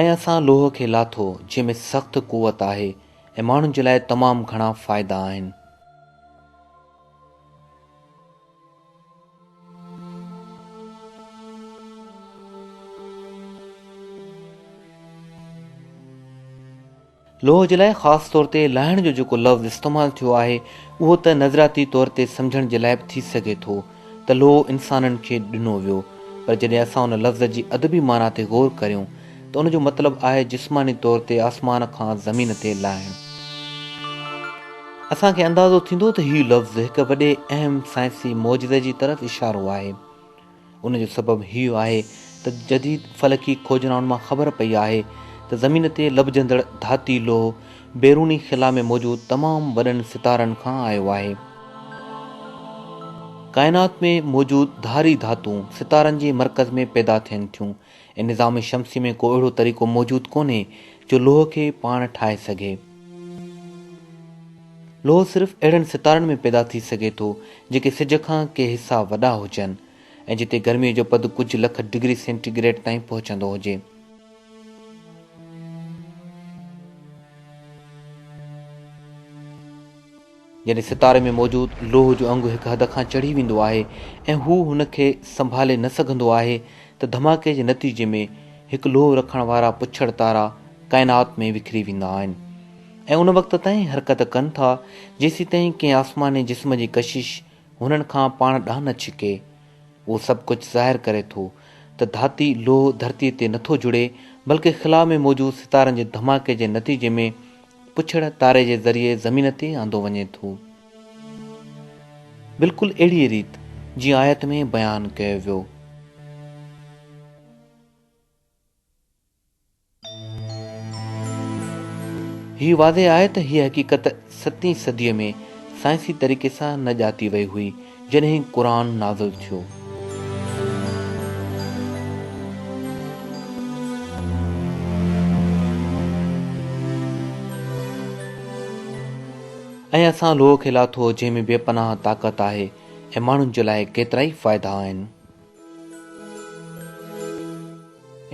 ۽ اسان لوهه کي لاٿو جنهن ۾ سخت قوت آهي ۽ ماڻهن جي لاء تمام گهڻا فائدا آهن. لوهه جي لاء خاص طور تي لاهڻ جو جيڪو لفظ استعمال ٿيو آهي اهو ته نظرياتي طور تي سمجهڻ جي لاء به ٿي سگهي ٿو ته لوهه انسانن کي ڏنو ويو پر جڏهن اسان ان لفظ جي ادبي معنيٰ تي غور ڪريون ته ان جو مطلب آهي جسماني طور تي آسمان کان زمين تي لاهڻ. اسان کي اندازو ٿيندو ته هي لفظ هڪ وڏي اهم سائنسي معجزي جي طرف اشارو آهي. ان جو سبب هيء آهي ته جديد فلڪي کوجنائن مان خبر پئي آهي ته زمين تي لڀجندڙ ڌاتي لوهه بيروني خلا ۾ موجود تمام وڏن ستارن کان آيو آهي. ڪائنات ۾ موجود ڌاري ڌاتون ستارن جي مرڪز ۾ پيدا ٿين ٿيون ۽ نظام شمسي ۾ ڪو اهڙو طريقو موجود ڪونهي جو لوهه کي پاڻ ٺاهي سگهي. لوهه صرف اهڙن ستارن ۾ پيدا ٿي سگهي ٿو جيڪي سج کان ڪي حصا وڏا هجن ۽ جتي گرمي جو پد ڪجهه لک ڊگري سينٽي گريڊ تائين پهچندو هجي. جڏهن ستاري ۾ موجود لوهه جو انگ هڪ حد کان چڙهي ويندو آهي ۽ هو هن کي سنڀالي نه سگهندو آهي ته ڌماڪي جي نتيجي ۾ هڪ لوهه رکڻ وارا پڇڙ تارا ڪائنات ۾ وکري ويندا آهن. ۽ ان وقت تائين حرڪت ڪن ٿا جيسيتائين ڪنهن آسماني جسم جي ڪشش هنن کان پاڻ ڏانهن نه ڇڪي. اهو سڀ ڪجهه ظاهر ڪري ٿو ته ڌاتي لوهه ڌرتي تي نٿو جڙي بلڪه خلا ۾ موجود ستارن جي ڌماڪي جي نتيجي ۾ پڇڙ تاري جي ذريعي زمين تي آندو وڃي ٿو. بلڪل اهڙيء ريت جيئن آيت ۾ بيان ڪيو ويو. هي واضح آهي ته هيء حقيقت ستين صديء ۾ سائنسي طريقي سان نه ڄاتي وئي هئي، جڏهن قرآن نازل ٿيو. ۽ اسان لوهه کي لاٿو جنهن ۾ بي پناهه طاقت آهي ۽ ماڻهن جي لاء ڪيترائي فائدا آهن.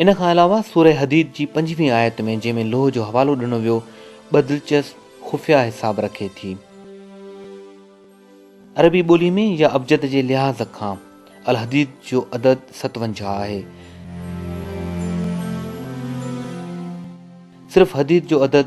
ان کان علاوه سوره حديد جي پنجويهين آيت ۾ جنهن ۾ لوهه جو حوالو ڏنو ويو ٻه دلچسپ خفيه حساب رکي ٿي. عربي ٻولي ۾ يا ابجد جي لحاظ کان الحديد جو عدد ستونجاهه آهي. صرف حديد جو عدد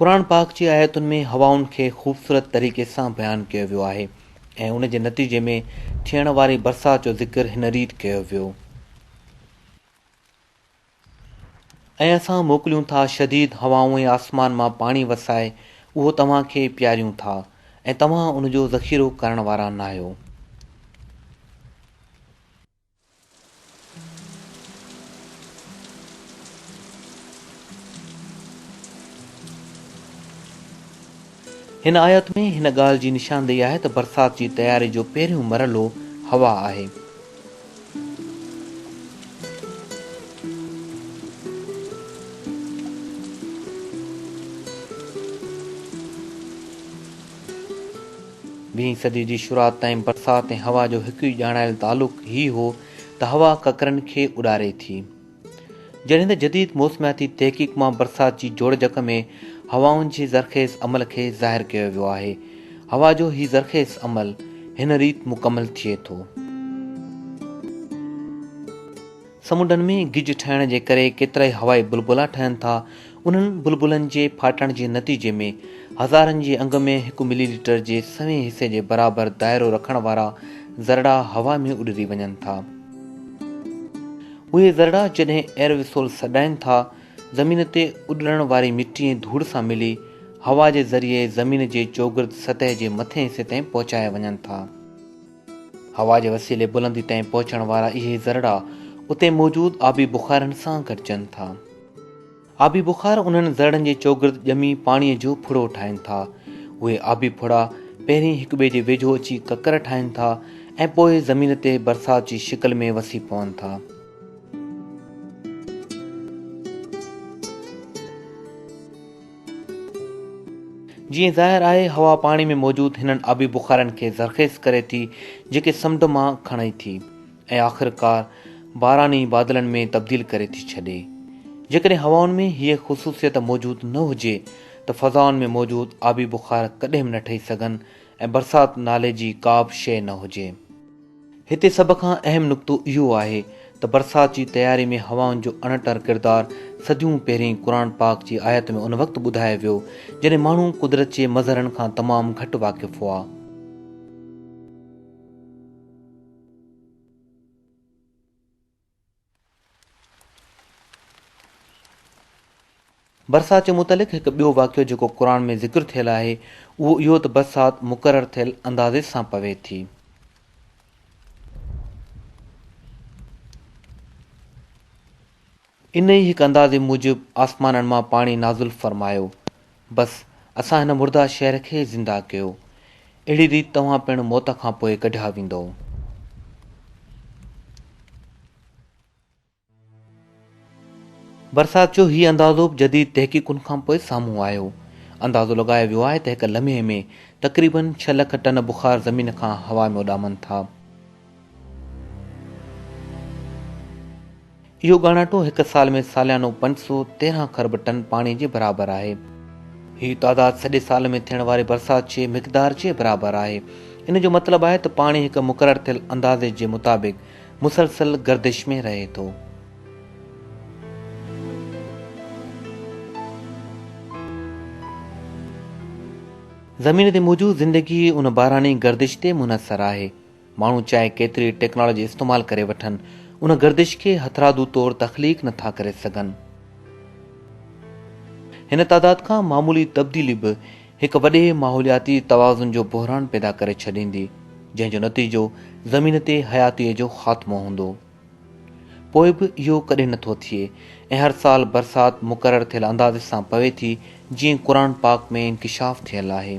قرآن پاڪ جي آيتن ۾ هوائن کي خوبصورت طريقي سان بيان ڪيو ويو آهي ۽ ان جي نتيجي ۾ ٿيڻ واري برسات جو ذڪر هن ريت ڪيو ويو. ۽ اسان موڪليون ٿا شديد هوائون ۽ آسمان مان پاڻي وسائي اهو توهان کي پياريون ٿا ۽ توهان ان جو ذخيرو ڪرڻ وارا ناهيو. هن آيت ۾ هن ڳالهه جي نشاندهي آهي ته برسات جي تياري جو پهريون مرحلو هوا آهي. ويهين صدي جي شروعات تائين برسات ۽ هوا جو هڪ ئي ڄاڻايل تعلق هي هو ته هوا ڪڪرن کي اڏاري ٿي. جڏهن ته جديد موسمياتي تحقيق مان برسات جي جوڙجڪ ۾ هوائن جي زرخيز عمل کي ظاهر ڪيو ويو آهي. هوا جو هي زرخيز عمل هن ريت مڪمل ٿئي ٿو. سمنڊن ۾ گج ٺهڻ جي ڪري ڪيترائي هوائي بلبلا ٺهن ٿا. انهن بلبلن جي ڦاٽڻ جي نتيجي ۾ هزارن جي انگ ۾ هڪ ملي ليٽر جي سوين حصي جي برابر دائرو رکڻ وارا ذرڙا هوا ۾ اڏري وڃن ٿا. اهي ذرڙا جڏهن ايروسول سڏائين ٿا، زمين تي اڏرڻ واري مٽي ۽ ڌوڙ سان ملي هوا جي ذريعي زمين جي چوگرد سطح جي مٿئين حصي تائين پهچايا وڃن ٿا. هوا جي وسيلي بلندي تائين پهچڻ وارا اهي ذرڙا اتي موجود آبي بخارن سان گڏجن ٿا. آبي بخار انهن ذرڙن جي چوگرد ڄمي پاڻيء جو ڦڙو ٺاهين ٿا. اهي آبي ڦڙا پهرين هڪ ٻئي جي ويجهو اچي ڪڪر ٺاهين ٿا ۽ پوء زمين تي برسات جي شڪل ۾ وسي پون ٿا. جيئن ظاهر آهي هوا پاڻي ۾ موجود هنن آبي بخارن کي زرخيز ڪري ٿي جيڪي سمنڊ مان کڻي ٿي. ۽ آخرڪار باراني بادلن ۾ تبديل ڪري ٿي ڇڏي. جيڪڏهن هوائن ۾ هيء خصوصيت موجود نه هجي ته فضائن ۾ موجود آبي بخار ڪڏهن به نه ٺهي سگهن ۽ برسات نالي جي ڪابه شيء نه هجي. هتي سڀ کان اهم نقطو اهو آهي ته برسات جي تياري ۾ هوائن جو اڻٽر ڪردار صديون پهرين قرآن پاڪ جي آيت ۾ ان وقت ٻڌايو ويو جڏهن ماڻهو قدرت جي مظهرن کان تمام گهٽ واقف هئا. برسات جي متعلق هڪ ٻيو واقعو جيڪو قرآن ۾ ذڪر ٿيل آهي اهو اهو ته برسات مقرر ٿيل اندازي سان پوي ٿي. انهي ئي هڪ اندازي موجب آسمانن مان پاڻي نازل فرمايو، بس اسان هن مرده شهر کي زنده ڪيو، اهڙي ريت توهان پڻ موت کان پوء ڪڍيا ويندؤ. برسات جو هي اندازو به جديد تحقيقن کان پوء سامهون آيو. اندازو لڳايو ويو آهي ته هڪ لمحي ۾ تقريبن ڇهه لک ٽن بخار زمين کان هوا ۾ اڏامن ٿا. اهو ڳاڻاٽو هڪ سال ۾ ساليانو پنج سؤ تيرهن خرب ٽن پاڻي جي برابر آهي. هي تعداد سڄي سال ۾ ٿيڻ واري برسات جي مقدار جي برابر آهي. ان جو مطلب آهي ته پاڻي هڪ مقرر ٿيل اندازي جي مطابق مسلسل گردش ۾ رهي ٿو. زمين تي موجود زندگي ان باراني گردش تي منحصر آهي. ماڻهو چاهي ڪيتري ٽيڪنالاجي استعمال ڪري وٺن، ان گردش کي هٿرادو طور تخليق نه ٿا ڪري سگهن. هن تعداد کان معمولي تبديلي به هڪ وڏي ماحولياتي توازن جو بحران پيدا ڪري ڇڏيندي، جنهن جو نتيجو زمين تي حياتيء جو خاتمو هوندو. پوء به اهو ڪڏهن نه ٿو ٿئي ۽ هر سال برسات مقرر ٿيل اندازي سان پوي ٿي جيئن قرآن پاڪ ۾ انڪشاف ٿيل آهي.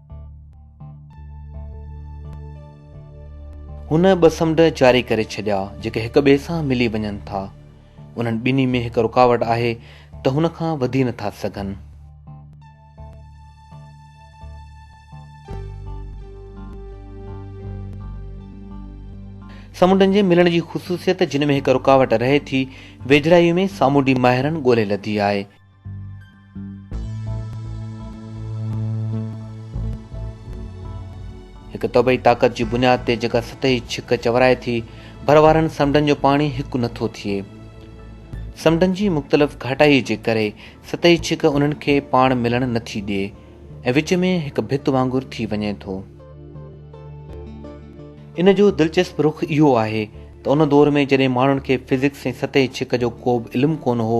هن ٻه سمنڊ جاري ڪري ڇڏيا جيڪي هڪ ٻئي سان ملي وڃن ٿا. انهن ٻنهي ۾ هڪ رڪاوٽ آهي ته هن کان وڌي نٿا سگهن. سمنڊن جي ملڻ جي خصوصيت جن ۾ هڪ رڪاوٽ رهي ٿي، ويجهڙائيء ۾ سامونڊي ماهرن ڳولي لڌي آهي. هڪ طبعي طاقت جي بنياد تي جيڪا سطحي ڇڪ چورائي ٿي، ڀر وارن سمنڊن جو پاڻي هڪ نه ٿو ٿئي. سمنڊن جي مختلف گهاٽائيء جي ڪري سطحي ڇڪ انهن کي پاڻ ملڻ نه ٿي ڏئي ۽ وچ ۾ هڪ ڀت وانگر ٿي وڃي ٿو. ان جو دلچسپ رخ اهو آهي ته ان دور ۾ جڏهن ماڻهن کي فزڪس ۽ سطحي ڇڪ جو ڪوبه علم ڪونه هو،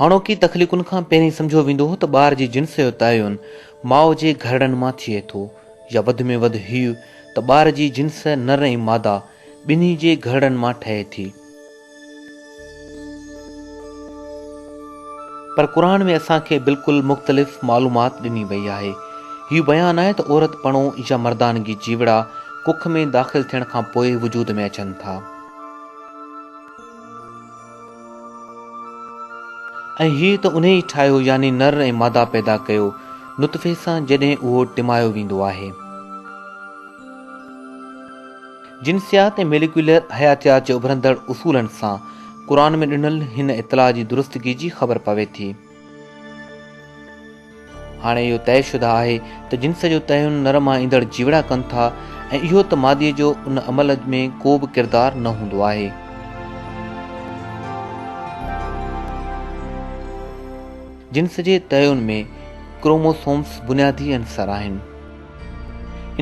هاڻوڪي تخليقن کان پهرين سمجهيو ويندو هو ته ٻار جي جنس جو تعين ماء جي گهرڙن مان ٿئي ٿو يا وڌ ۾ وڌ هيء ته ٻار جي جنس نر ۽ ماده ٻنهي جي گهرڙن مان ٺهي ٿي. پر قرآن ۾ اسان کي بلڪل مختلف معلومات ڏني وئي آهي. هيء بيان آهي ته عورت پڻو يا مردانگي جيوڙا ڪک ۾ داخل ٿيڻ کان پوء وجود ۾ اچن ٿا. ۽ هيء ته انهي ئي ٺاهيو يعني نر ۽ مادا پيدا ڪيو نطفي سان جڏهن اهو ٽمايو ويندو آهي. جنسيات ۽ ميليڪيولر حياتيات جي اڀرندڙ اصولن سان قرآن ۾ ڏنل هن اطلاع جي درستگي جي خبر پوي ٿي. هاڻي اهو طئي شده آهي ته جنس جو تعين نر مان ايندڙ جيوڙا ڪن ٿا ۽ اهو ته مادي جو ان عمل ۾ ڪو به ڪردار نه هوندو آهي. جنس جي تعين ۾ ڪروموسومز بنيادي عنصر آهن.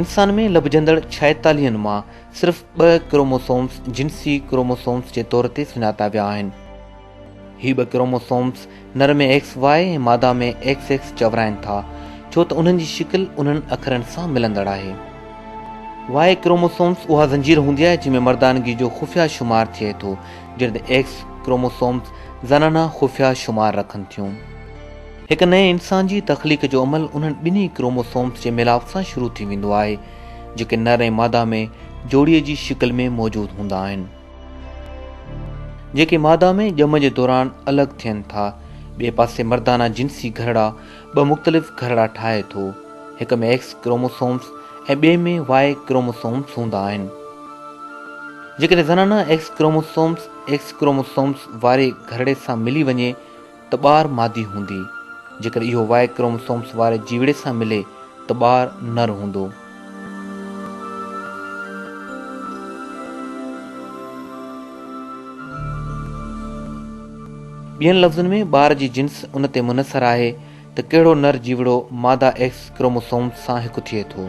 انسان ۾ لڀجندڙ ڇائيتاليهن مان صرف ٻه ڪروموسومز جنسي ڪروموسومز جي طور تي سڃاتا ويا آهن. هي ٻه ڪروموسومز نر ۾ ايڪس واء ۽ ماده ۾ ايڪس ايڪس چورائين ٿا، ڇو ته انهن جي شڪل انهن اکرن سان ملندڙ آهي. واء ڪروموسومز اها زنجير هوندي آهي جنهن ۾ مردانگي جو خفيه شمار ٿئي ٿو، جڏهن ته ايڪس ڪروموسومز زنانا خفيه شمار رکن ٿيون. هڪ نئين انسان جي تخليق جو عمل انهن ٻنهي ڪروموسومز جي ميلاپ سان شروع ٿي ويندو آهي، جيڪي نر ۽ ماده ۾ جوڙي جي شڪل ۾ موجود هوندا آهن. جيڪي ماده ۾ ڄم جي دوران الڳ ٿين ٿا. ٻئي پاسي مردانه جنسي گهرڙا ٻه مختلف گهرڙا ٺاهي ٿو. هڪ ۾ ايڪس ڪروموسومز ۽ ٻئي ۾ واء ڪروموسومز هوندا آهن. جيڪڏهن زنانه ايڪس ڪروموسومز ايڪس ڪروموسومز واري گهرڙي سان ملي وڃي ته ٻار مادي هوندي، جيڪڏهن اهو وائي ڪروموسومس واري جيوڙي سان ملي ته ٻار نر هوندو. ٻين لفظن ۾ ٻار جي جنس ان تي منحصر آهي ته ڪهڙو نر جيوڙو ماده ايڪس ڪروموسومس سان هڪ ٿئي ٿو.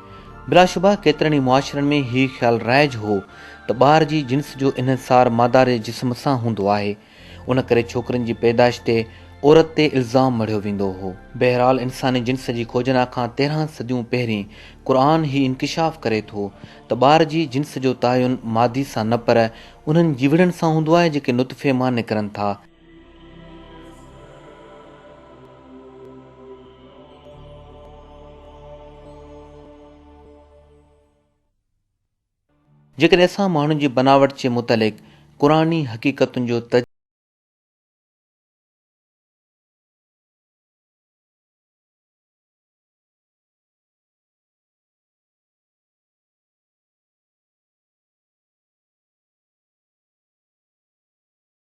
بلاشبه ڪيترن ئي معاشرن ۾ هي خيال رائج هو ته ٻار جي جنس جو انحصار ماداري جسم سان هوندو آهي، ان ڪري ڇوڪرين جي پيدائش تي عورت تي الزام مڙهيو ويندو هو. بهرحال انساني جنس جي کوجنا کان تيرهن صديون پهرين قرآن هي انڪشاف ڪري ٿو ته ٻار جي جنس جو تعين مادي سان نه پر انهن جيوڙن سان هوندو آهي جيڪي نطفي مان نڪرن ٿا، جيڪڏهن اسان ماڻهن جي بناوٽ جي متعلق قرآني حقيقتن جو تجزيو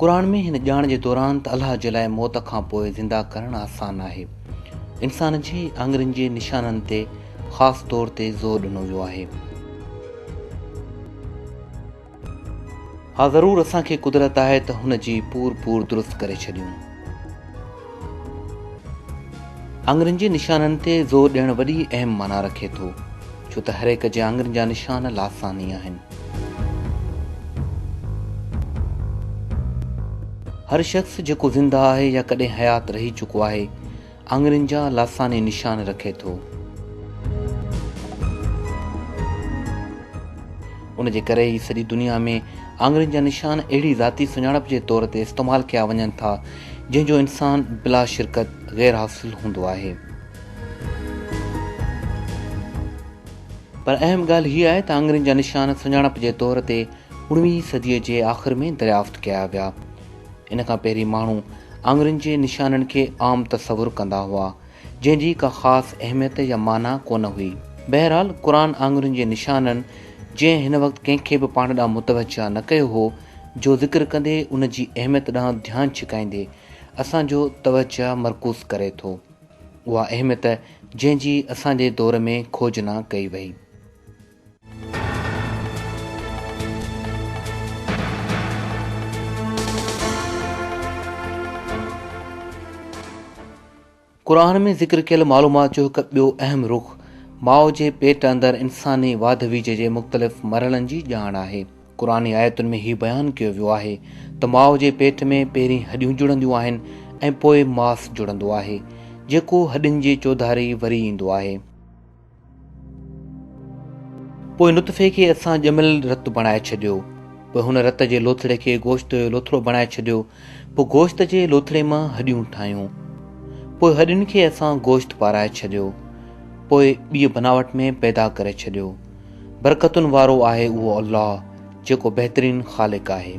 قرآن ۾ هن ڄاڻ جي دوران ته الله جي لاء موت کان پوء زنده ڪرڻ آسان آهي، انسان جي آڱرين جي نشانن تي خاص طور تي زور ڏنو ويو آهي. ها ضرور اسان کي قدرت آهي ته هن جي پور پور درست ڪري ڇڏيون. آڱرين جي نشانن تي زور ڏيڻ وڏي اهم معنيٰ رکي ٿو ڇو ته هرهڪ جي آڱرين جا نشان لاثاني آهن. هر شخص جيڪو زنده آهي يا ڪڏهن حيات رهي چڪو آهي آڱرين جا لاثاني نشان رکي ٿو. ان جي ڪري ئي سڄي دنيا ۾ آڱرين جا نشان اهڙي ذاتي سڃاڻپ جي طور تي استعمال ڪيا وڃن ٿا، جنهن جو انسان بلا شرڪت غير حاصل هوندو آهي. پر اهم ڳالهه هيء آهي ته آڱرين جا نشان سڃاڻپ جي طور تي اڻويهين صديء جي آخر ۾ دريافت ڪيا ويا. ان کان پهرين ماڻهو آڱرين جي نشانن کي عام تصور ڪندا هئا، جنهن جي ڪا خاص اهميت يا معنيٰ ڪو نه هئي. بهرحال قرآن آڱرين جي نشانن، جنهن هن وقت ڪنهن کي به پاڻ ڏانهن متوجهه نه ڪيو هو، جو ذڪر ڪندي ان جي اهميت ڏانهن ڌيان ڇڪائيندي اسان جو توجهه مرڪوز ڪري ٿو. اها اهميت جنهن جي اسان جي دور ۾ کوجنا ڪئي وئي. قرآن ۾ ذڪر ڪيل معلومات جو هڪ ٻيو اهم رخ ماء جي پيٽ اندر انساني واڌ ويجهه جي مختلف مرحلن جي ڄاڻ آهي قرآن آيتن ۾ هي بيان ڪيو ويو آهي ته ماء جي پيٽ ۾ پهرين هڏيون جڙنديون آهن ۽ پوء ماس جڙندو آهي جيڪو هڏين جي چوڌاري وري ايندو آهي پوء نطفي کي اسان ڄميل رت بڻائي ڇڏيو پوء هن رت جي لوٿڙي کي گوشت جو لوٿڙو بڻائي ڇڏيو پوء گوشت جي لوٿڙي مان هڏيون ٺاهيون پوء هڏين کي اسان گوشت پارائي ڇڏيو پوء ٻي بناوٽ ۾ پيدا ڪري ڇڏيو برڪتن وارو آهي اهو الله جيڪو بهترين خالق آهي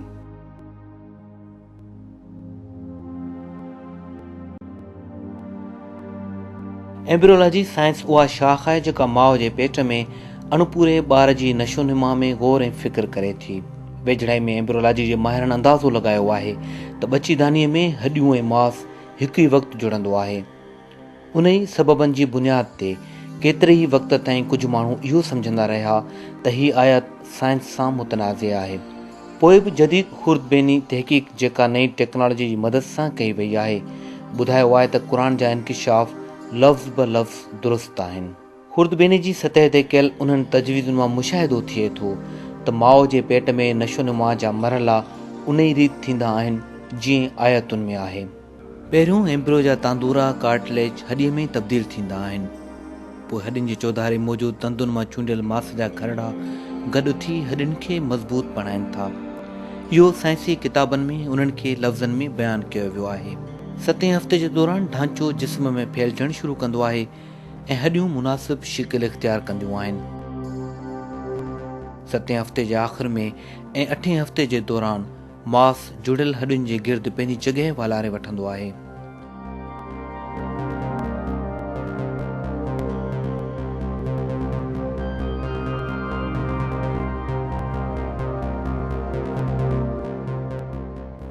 ايمبريولاجي سائنس اها شاخ آهي جيڪا ماء جي پيٽ ۾ اڻپوري ٻار جي نشونما ۾ غور ۽ فڪر ڪري ٿي. ويجهڙائي ۾ ايمبريولاجي جي ماهرن اندازو لڳايو آهي ته ٻچيدانيء ۾ هڏيون ۽ ماس هڪ ئي وقت جڙندو آهي. انهي سببن جي بنياد تي ڪيتري ئي وقت تائين ڪجهه ماڻهو اهو سمجهندا رهيا ته هي آيت سائنس سان متنازع آهي. پوء به جديد خوردبيني تحقيق جيڪا نئين ٽيڪنالاجي جي مدد سان ڪئي وئي آهي، ٻڌايو آهي ته قرآن جا انڪشاف لفظ به لفظ درست آهن. خوردبيني جي سطح تي ڪيل انهن تجويزن مان مشاهدو ٿئي ٿو ته ماء جي پيٽ ۾ نشونما جا مرحلا انهي ريت ٿيندا آهن جيئن آيتن ۾ آهي. پهريون ايمبريو جا تاندورا، ڪارٽليج، هڏي ۾ ئي تبديل ٿيندا آهن. پوء هڏين جي چوڌاري موجود تندن مان چونڊيل ماس جا کرڙا گڏ ٿي هڏين کي مضبوط بڻائين ٿا. اهو سائنسي ڪتابن ۾ انهن کي لفظن ۾ بيان ڪيو ويو آهي. ستين هفتي جي دوران ڍانچو جسم ۾ ڦهلجڻ شروع ڪندو آهي ۽ هڏيون مناسب شڪل اختيار ڪنديون آهن. ستين هفتي جي آخر ۾ ۽ اٺين هفتي جي دوران، ماس جڙيل هڏين جي گرد پنهنجي جڳهه والاري وٺندو آهي.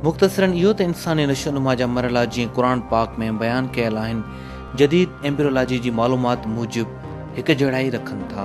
مختصراً اهو ته انساني نشونما جا مرحلا جيئن قرآن پاڪ ۾ بيان ڪيل آهن، جديد ايمبريولاجي جي معلومات موجب هڪجهڙائي رکن ٿا.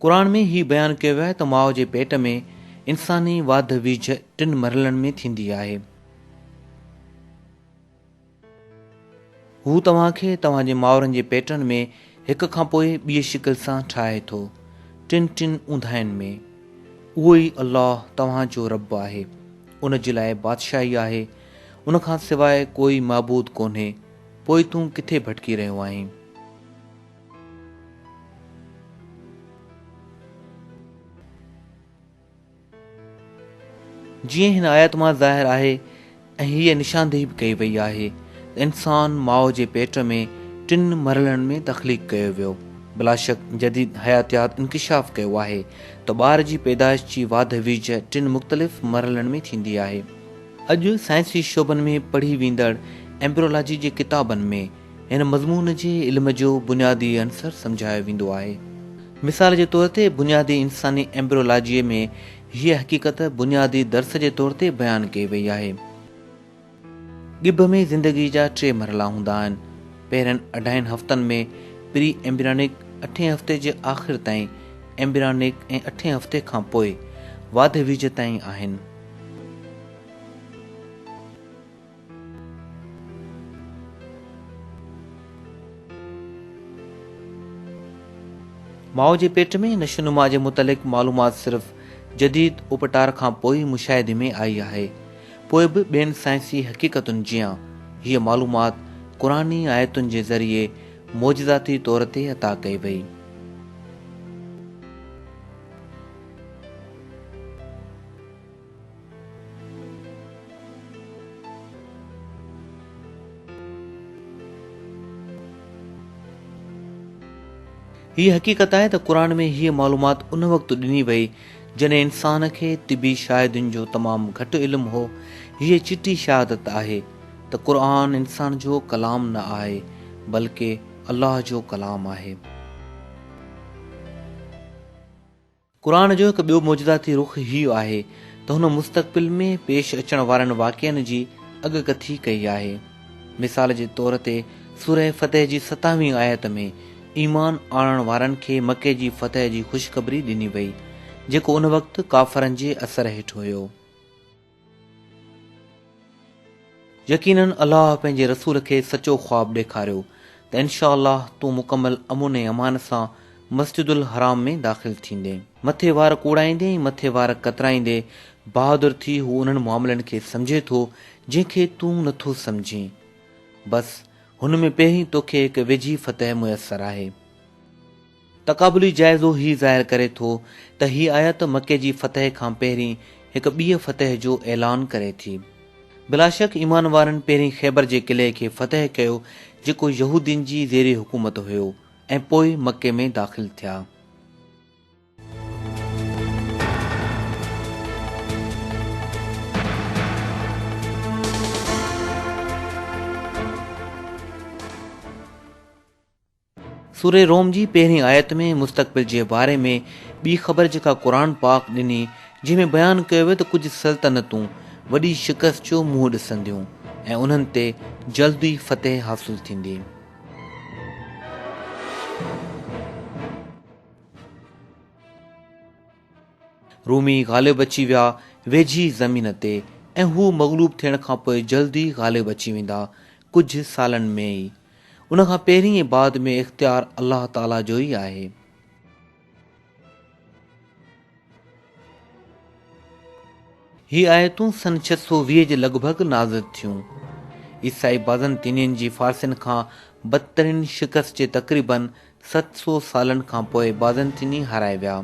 قرآن ۾ هي بيان ڪيو ويو آهي ته ماء جي پيٽ ۾ انساني واڌ ويجهه ٽن مرحلن ۾ ٿيندي آهي. هو توهان کي توهان جي مائرن جي پيٽن ۾ هڪ کان پوء ٻي شڪل سان ٺاهي ٿو، ٽن ٽن اونداهين ۾. اهو ئي الله توهان جو رب آهي، ان جي لاء بادشاهي آهي، ان کان سواء ڪوئي معبود ڪونهي، پوء تون ڪٿي ڀٽڪي رهيو آهين؟ جيئن هن آيت مان ظاهر آهي ۽ هيء نشاندهي به ڪئي وئي آهي ته انسان ماء جي پيٽ ۾ ٽن مرحلن ۾ تخليق ڪيو ويو. بلاشڪ جديد حياتيات انڪشاف ڪيو آهي ته ٻار جي پيدائش جي واڌ ويجهه ٽن مختلف مرحلن ۾ ٿيندي آهي. اڄ سائنسي شعبن ۾ پڙهي ويندڙ ايمبريولاجي جي ڪتابن ۾ هن مضمون جي علم جو بنيادي عنصر سمجهايو ويندو آهي. مثال جي طور تي بنيادي انساني ايمبريولاجيء ۾ هيء حقيقت بنيادي درس جي طور تي بيان ڪئي وئي آهي. ڳڀ ۾ زندگيء جا ٽي مرحلا هوندا آهن. پهرين اڍائين هفتن ۾ پري ايمبريانڪ، اٺين هفتي جي آخر تائين ايمبريانڪ ۽ اٺين هفتي کانپوء واڌ ويجهه تائين آهن. ماء جي پيٽ ۾ نشونما جي متعلق معلومات صرف جديد اپٽار کان پوء ئي مشاهدي ۾ آئي آهي. پوء به ٻين سائنسي حقيقتن جيان هيء معلومات قرآني آيتن جي ذريعي معجزاتي طور تي عطا ڪئي وئي. هي حقيقت آهي ته قرآن ۾ هيء معلومات ان وقت ڏني وئي جڏهن انسان کي طبي شاهدين جو تمام گهٽ علم هو. هيء چٽي شهادت آهي ته قرآن انسان جو ڪلام نه آهي بلڪه الله جو ڪلام آهي. قرآن جو هڪ ٻيو معجزاتي رخ هيء آهي ته هن مستقبل ۾ پيش اچڻ وارن واقعن جي اڳڪٿي ڪئي آهي. مثال جي طور تي سوره فتح جي ستاهوين آيت ۾ ايمان آڻڻ وارن کي مڪي جي فتح جي خوشخبري ڏني وئي، جيڪو ان وقت ڪافرن جي اثر هيٺ هيو. يقينن الله پنهنجي رسول کي سچو خواب ڏيکاريو ته انشاء الله تون مڪمل امن ۽ امان سان مسجد الحرام ۾ داخل ٿيندين. مٿي وار ڪوڙائيندي ۽ مٿي وار ڪترائيندي بهادر ٿي هو انهن معاملن کي سمجهي ٿو جنهن کي تون نه ٿو سمجهين. بس هن ۾ پهرين توکي هڪ ويجهي فتح ميسر آهي. تقابلي جائزو هي ظاهر ڪري ٿو ته هي آيت مڪي جي فتح کان پهرين هڪ ٻيء فتح جو اعلان ڪري ٿي. بلاشڪ ايمان وارن پهرين خيبر جي قلعي کي فتح ڪيو جيڪو يهودين جي زير حڪومت هيو ۽ پوء مڪي ۾ داخل ٿيا. سورة روم جي پهرين آيت ۾ مستقبل جي باري ۾ ٻي خبر جيڪا قرآن پاڪ ڏني جنهن ۾ بيان ڪيو ويو ته ڪجهه سلطنتون وڏي شڪست جو منهن ڏسنديون ۽ انهن تي جلد ئي فتح حاصل ٿيندي. رومي غالب اچي ويا ويجهي زمين تي ۽ هو مغلوب ٿيڻ کانپوء جلد ئي غالب اچي ويندا ڪجهه سالن ۾ ئي. ان کان پهرين ۽ بعد ۾ اختيار الله تعاليٰ جو ئي آهي. هي آيتون سن ڇهه سؤ ويهه جي لڳ ڀڳ نازل ٿيون. عيسائي بازنطينين جي فارسين کان بدترين شڪست جي تقريباً ست سؤ سالن کان پوء بازنطيني هارائي ويا.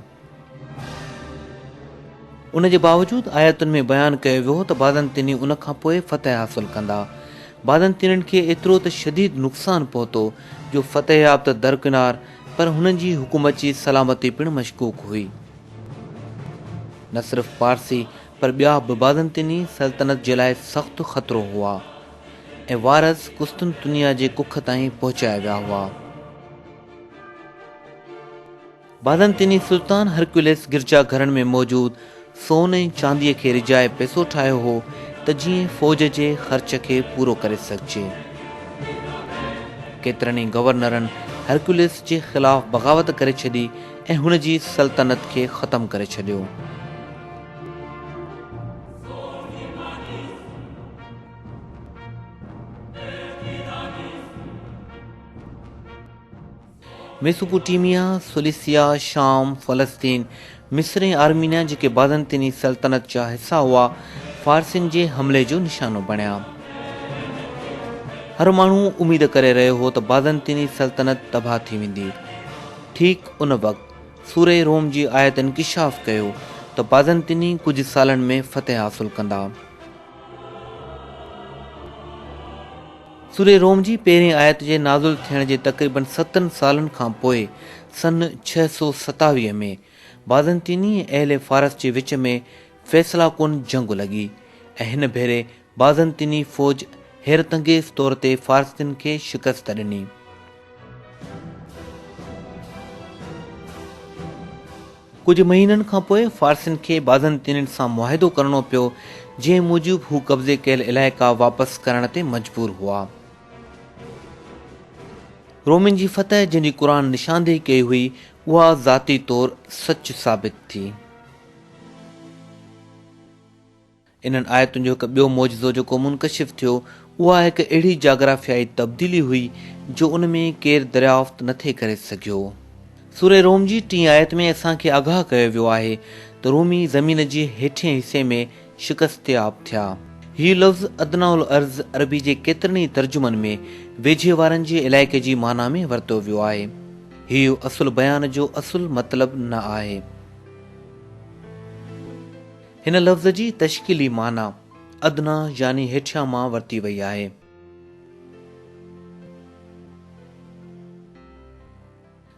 ان جي باوجود آيتن ۾ بيان ڪيو ويو هو ته بازنطيني ان کان پوء فتح حاصل ڪندا. بازنطينين کي ايترو ته شديد نقصان پهتو جو فتح ياب ته درڪنار پر هنن جي حڪومت جي سلامتي پڻ مشڪوڪ هئي. نه صرف پارسي پر ٻيا به بازنطيني سلطنت جي لاء سخت خطرو هئا. ۽ وارث قسطنطنيه جي ڪک تائين پهچايا ويا هئا. بازنطيني سلطان هرڪيولس گرجا گهرن ۾ موجود سون ۽ چانديء کي رجائي پئسو ٺاهيو هو ته جيئن فوج جي خرچ کي پورو ڪري سگهجي. ڪيترن ئي گورنرن هرڪيولس جي خلاف بغاوت ڪري ڇڏي ۽ هن جي سلطنت کي ختم ڪري ڇڏيو. ميسوپوٽيميا، سليسيا، شام، فلسطين، مصر ۽ آرمينيا جيڪي بازنطيني سلطنت جا حصا هئا، فارسين جي حملي جو نشانو بڻيا. هر ماڻهو اميد ڪري رهيو هو ته بازنطيني سلطنت تباهه ٿي ويندي. ٺيڪ ان وقت سوره روم جي آيت انڪشاف ڪيو ته بازنطيني ڪجهه سالن ۾ فتح حاصل ڪندا. سورة روم جي پهرين آيت جي نازل ٿيڻ جي تقريبن ستن سالن کان پوء سن ڇهه سؤ ستاويهه ۾ بازنطيني ۽ اهل فارس جي وچ ۾ فيصله ڪن جنگ لڳي ۽ هن ڀيري بازنطيني فوج حيرت انگيز طور تي فارسين کي شڪست ڏني. ڪجهه مهينن کان پوء فارسين کي بازنطينين سان معاهدو ڪرڻو پيو، جنهن موجب هو قبضي ڪيل علائقا واپس ڪرڻ تي مجبور هئا. رومين جي فتح جنهن جي قرآن نشاندهي ڪئي هئي، اها ذاتي طور سچ ثابت ٿي. انهن آيتن جو هڪ ٻيو معجزو جيڪو منڪشف ٿيو، اها هڪ اهڙي جاگرافيائي تبديلي هئي، جو ان ۾ ڪير دريافت نه ٿي ڪري سگهيو. سوره روم جي ٽين آيت ۾ اسان کي آگاهه ڪيو ويو آهي ته رومي زمين جي هيٺئين حصي ۾ شڪستياب ٿيا. هي لفظ ادنيٰ الارض عربي جي ڪيترن ئي ترجمن ۾ ويجهي وارن جي علائقي جي معنيٰ ۾ ورتو ويو آهي. هيء اصل بيان جو اصل مطلب نه آهي. هن لفظ جي تشڪيلي معنيٰ ادنيٰ يعني هيٺيان مان ورتي وئي آهي.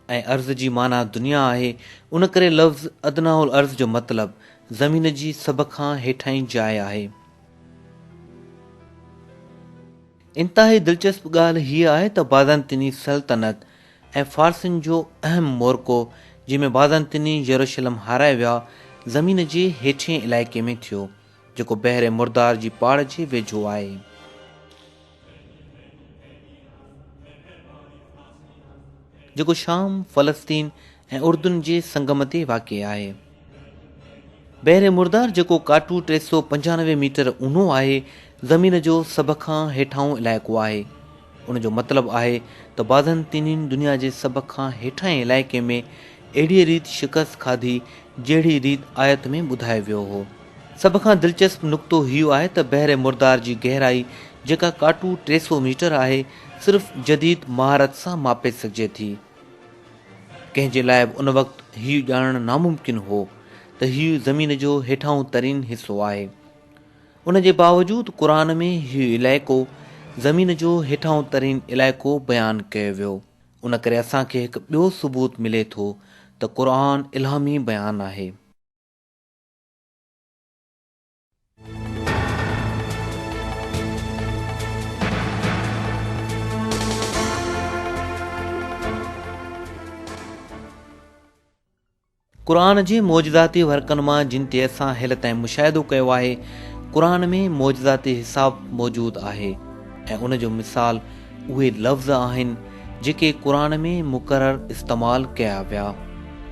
۽ ارض جي معنيٰ دنيا آهي، ان ڪري لفظ ادنيٰ الارض جو مطلب زمين جي سڀ کان هيٺاهين جاء آهي. انتهائي دلچسپ ڳالهه هيء آهي ته بازنطيني سلطنت ۽ فارسين جو اهم معرڪو، جنهن ۾ بازنطيني يروشلم هارائي ويا، زمين جي هيٺئين علائقي ۾ ٿيو، جيڪو بحر مردار جي پاڙ جي ويجهو آهي. جيڪو شام، فلسطين ۽ اردن جي سنگم تي واقع آهي. بحر مردار جيڪو ڪاٽو ٽي سؤ پنجانوي ميٽر اونهو آهي، زمين جو سڀ کان هيٺاهون علائقو آهي. ان جو مطلب آهي ته بازنطينين دنيا جي سڀ کان هيٺاهين علائقي ۾ اهڙيء ريت شڪست کاڌي جهڙيء ريت آيت ۾ ٻڌايو ويو هو. سڀ کان دلچسپ نقطو هيء آهي ته بحر مردار جي گهرائي جيڪا ڪاٽو ٽي سؤ ميٽر آهي، صرف جديد مهارت سان ماپي سگهجي ٿي. ڪنهن جي لاء به ان وقت هيء ڄاڻڻ ناممڪن هو ته هيء زمين جو هيٺاهون ترين حصو آهي. ان جي باوجود قرآن ۾ هيء علائقو زمين جو هيٺاهون ترين علائقو بيان ڪيو ويو. ان ڪري اسان کي هڪ ٻيو ثبوت ملي ٿو ته قرآن الهامي بيان آهي. قرآن جي معجزاتي ورقن مان جن تي اسان هيل تائين مشاهدو ڪيو آهي قرآن ۾ معجزاتي حساب موجود آهي ۽ ان جو مثال اهي لفظ آهن جيڪي قرآن ۾ مڪرر استعمال ڪيا ويا.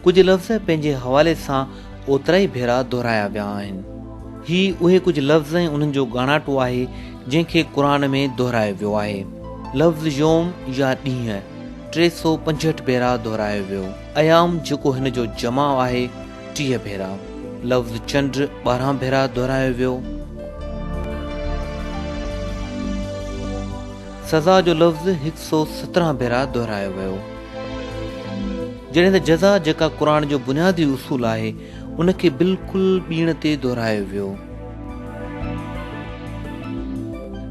ڪجهه لفظ پنهنجي حوالي سان اوترائي ڀيرا دهرايا ويا آهن. هي اهي ڪجهه لفظ ۽ انهن جو ڳاڻاٽو آهي جنهن کي قرآن ۾ دهرايو ويو آهي. لفظ يوم يا ڏينهن ٽي سؤ پنجهٺ ڀيرا دهرايو ويو. ايام جيڪو هن جو جمع آهي. ٽيهه ڀيرا لفظ چنڊ ٻارهن ڀيرا دهرايو ويو. سزا جو لفظ هڪ سؤ سترهن ڀيرا دهرايو ويو. جڏهن ته جزا جيڪا قرآن جو بنيادي اصول آهي ان کي بلڪل ٻيڻ تي دهرايو ويو.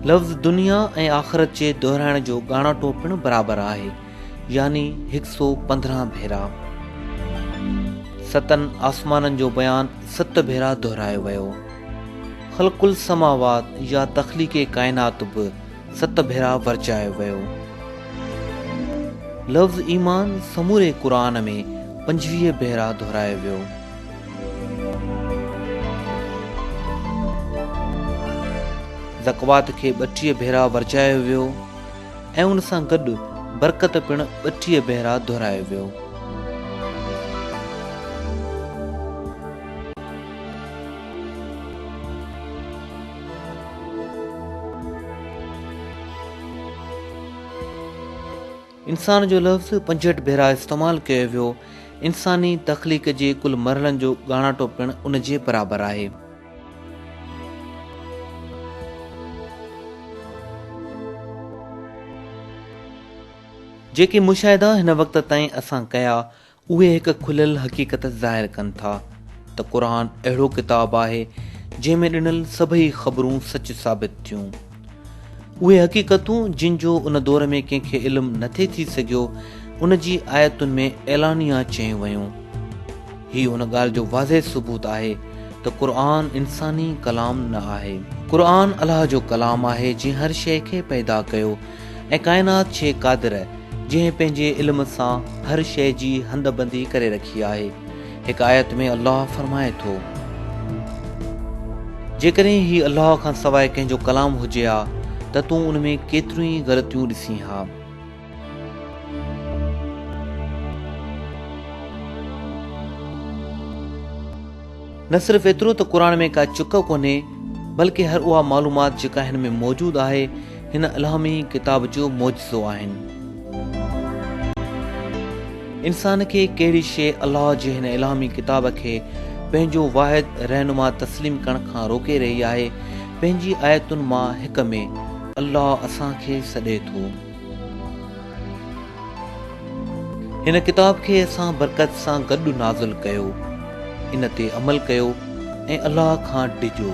لفظ دنيا ۽ آخرت جي دهرائڻ جو ڳاڻاٽو پڻ برابر آهي. يعني هڪ سو پندرهن ڀيرا. ستن آسمانن جو بيان ست ڀيرا دهرايو ويو. خلق السماوات يا تخليق ڪائنات به ست ڀيرا ورجايو ويو. لفظ ايمان سموري قرآن ۾ پنجويهه ڀيرا دهرايو ويو. زڪوات کي ٻٽيهه ڀيرا ورجايو ويو. ۽ ان سان گڏ برڪت پڻ ٻٽيهه ڀيرا دهرايو ويو. انسان جو لفظ پنجهٺ ڀيرا استعمال ڪيو ويو. انساني تخليق جي ڪل مرحلن جو ڳاڻاٽو پڻ ان جي برابر آهي. جيڪي مشاهدا هن وقت تائين اسان ڪيا اهي هڪ کليل حقيقت ظاهر ڪن ٿا ته قرآن اهڙو ڪتاب آهي جنهن ۾ ڏنل سڀئي خبرون سچ ثابت ٿيون اهي حقيقتون جن جو ان دور ۾ ڪنهن کي علم نٿي ٿي سگهيو، ان جي آيتن ۾ اعلانيه چيون ويون. هي ان ڳالهه جو واضح ثبوت آهي ته قرآن انساني ڪلام نه آهي. قرآن الله جو ڪلام آهي جنهن هر شيء کي پيدا ڪيو ۽ ڪائنات ڇي قادر جنهن پنهنجي علم سان هر شيء جي هنڌ بندي ڪري رکي آهي. هڪ آيت ۾ الله فرمائي ٿو. جيڪڏهن هي الله کان سواء ڪنهن جو ڪلام هجي ها ته تون ان ۾ ڪيتريون ئي غلطيون ڏسين ها. نه صرف ايترو ته قرآن ۾ ڪا چڪ ڪونهي بلڪه هر اها معلومات جيڪا هن ۾ موجود آهي، هن الهامي ڪتاب جو معجزو آهن. انسان کي ڪهڙي شيء الله جي هن الهامي ڪتاب کي پنهنجو واحد رهنما تسليم ڪرڻ کان روڪي رهي آهي؟ پنهنجي آيتن مان هڪ ۾ الله اسان کي سڏي ٿو. هن ڪتاب کي اسان برڪت سان گڏ نازل ڪيو، ان تي عمل ڪيو ۽ الله کان ڊڄو.